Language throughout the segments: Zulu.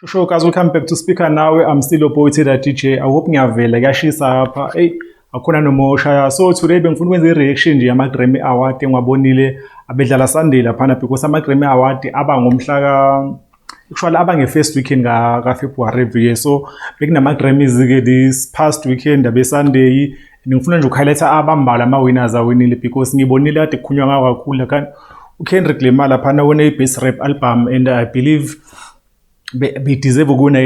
Sure guys, welcome back to Speaker Nawe. I'm still your boy Teda DJ. I hope ngiyavela kuyashisa hapha. Hey, akhona nomosha. So today bengifuna ukwenza i-reaction nje yama Grammy Award engiwabonile abedlala Sunday laphana because ama Grammy Award aba ngomhla ka Kushwala aba nge-first weekend ka-February every year so bekunama-Grammys-ke this past weekend abe-Sunday ngifuna nje ukuhighlight-a abambalwa ama-winners awinile because ngibonile kade kukhulunywa ngawo kakhulu kanti uKendrick Lamar laphana wena i-best rap album and I believe be, be deserve ukuwina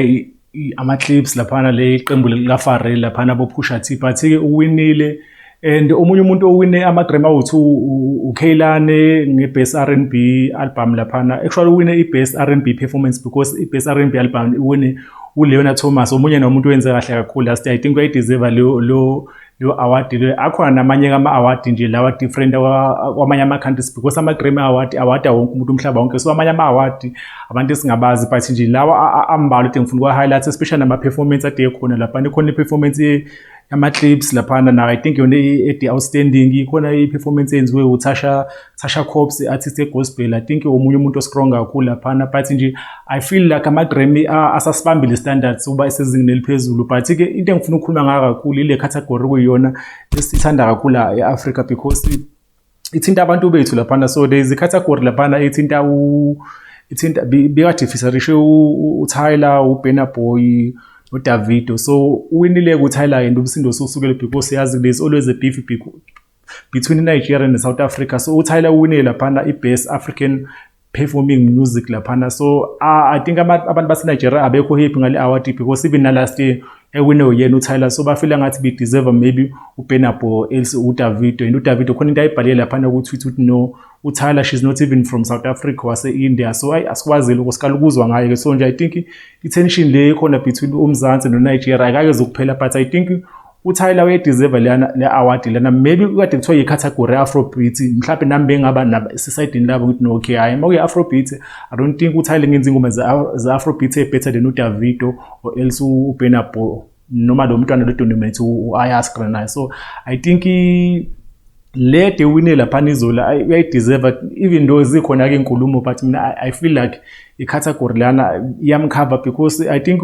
ama-clips laphana le iqembu likafarel laphana abophusha t but-ke uwinile and omunye umuntu owine ama-grammy awards ukhaylane nge-best r n b album laphana actually uwine i-best r n b performance because i-best r n b album iwine uleona thomas omunye nomuntu owenze kahle kakhulu last year i think uyayideserva Yo award le akhona namanye kama award nje lawa different kwamanye ama countries because ama Grammy award award wonke umuntu umhlaba wonke so amanye ama award abantu singabazi but nje lawa ambalwa ukuthi ngifuna kwa highlights especially nama performance ade khona lapha khona i performance yama clips lapha na I think yona e outstanding khona i performance enziwe uTasha Sasha Cops artist yegospel I think omunye umuntu ostrong kakhulu laphana but nje I feel like ama Grammy asasibambile standards uba esezingeni eliphezulu but ke into engifuna ukukhuluma ngayo kakhulu ile category kuyona esithanda kakhulu eAfrica because ithinta abantu bethu laphana so there is a category laphana ithinta u ithinta bikade fisarishe uTyler uBena Boy uDavido so uwinile kuTyler and umsindo sosukele because yazi there's always a beef between iNigeria neSouth Africa so uTyler uwinile laphana i-best African performing music laphana so uh, i think abantu baseNigeria abekho happy ngale award because even nalast year ewine uyena uTyler so bafila ngathi be deserve maybe uBenabo else uDavido and uDavido khona into ayibhalile laphana ku-Twitter ukuthi no uTyler she's not even from South Africa wase India so ayi asikwazile ukusikala ukuzwa ngaye ke so nje i think i tension le khona between uMzansi noNigeria akake zokuphela but i think uthayela uyedeserve leyana le award lena maybe kade kuthiwa yicategory afrobeat mhlawumbe nami bengaba naba esisayidini labo ngithi no okay hayi makuye afrobeat i don't think uthayela ngenza ingoma ze-afrobeat ebetter than udavido or else uburna boy noma lo mntwana lodonimate u-ayaskra naye so i think le de wine laphana izolo uyayideserve even though zikhona ke inkulumo but mina I, i feel like icategory lana iyamkhava because i think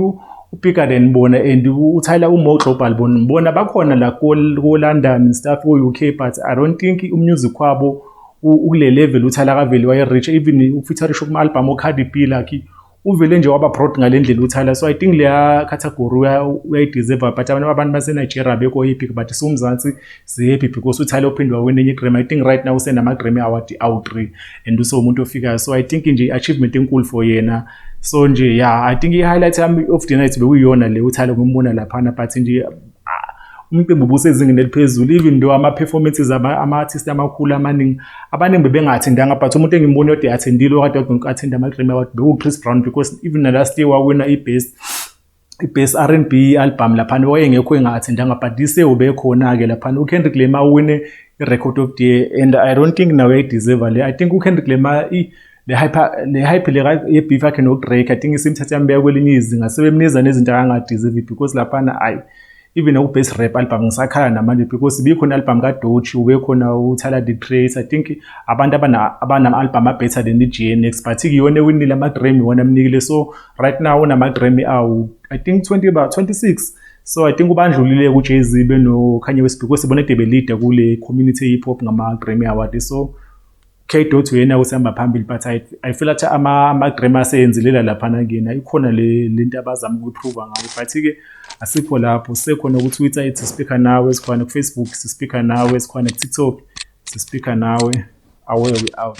upika then bona and uthayela umo global bona bona bakhona la ko london stuff ko uk but i don't think umusic wabo ukule level uthayela kaveli waye reach even ufeaturisha kuma album okhadi p lakhe uvele nje waba broad ngale ndlela uthayela so i think leya category uyayideserve but abantu abantu basenigeria bekho happy but siwumzansi sihappy because uthayela uphinde wawina enye igrammy i think right now usenamagrammy award awu-three and usewumuntu ofikayo so i think nje i-achievement enkulu for yena so nje ya i think i-highlight yami of the night bekuyiyona le uthayela ngombona laphana but nje umcimbi ubusezingeni eliphezulu even though ama-performances ama-artist amakhulu amaningi abaningi bebengathindanga but umuntu engimboni yodwa athendile okade athinda ama-grammy award bekuwu-chris brown because even nalast year wawina i-best i-best r and b album laphana wayengekho enga-athendanga but this year ubekhona-ke laphana ukendrick lema wine i-record of the year and i don't think nawe ayideserve le i think ukendrick lema i- le hyper le hyper le ye beef yakhe no Drake i think isimthatha yambeka kwelinye izinga sebemniza nezinto akangadeserve because laphana ayi even u best rap album ngisakhala namanje because bikhona album ka Dochi ube khona u Tyler the Creator i think abantu abana abanama album a better than the GNX but kuyona winile ama Grammy wona mnikile so right now unama Grammy awu i think 20 ba 26 so i think ubandlulile ku Jay-Z beno Kanye West because bona debe leader kule community hip hop ngama Grammy award so K-Dot uyena usihamba phambili but I, I feel athi ama-drama aseyenzilela laphana kuyena ikhona le nto abazama ukuyiphruva ngayo but-ke asikho lapho sisekhona ku-twitter ithi sispikha nawe sikhona kufacebook sispikha nawe sikhona kutiktok sispikha nawe away we out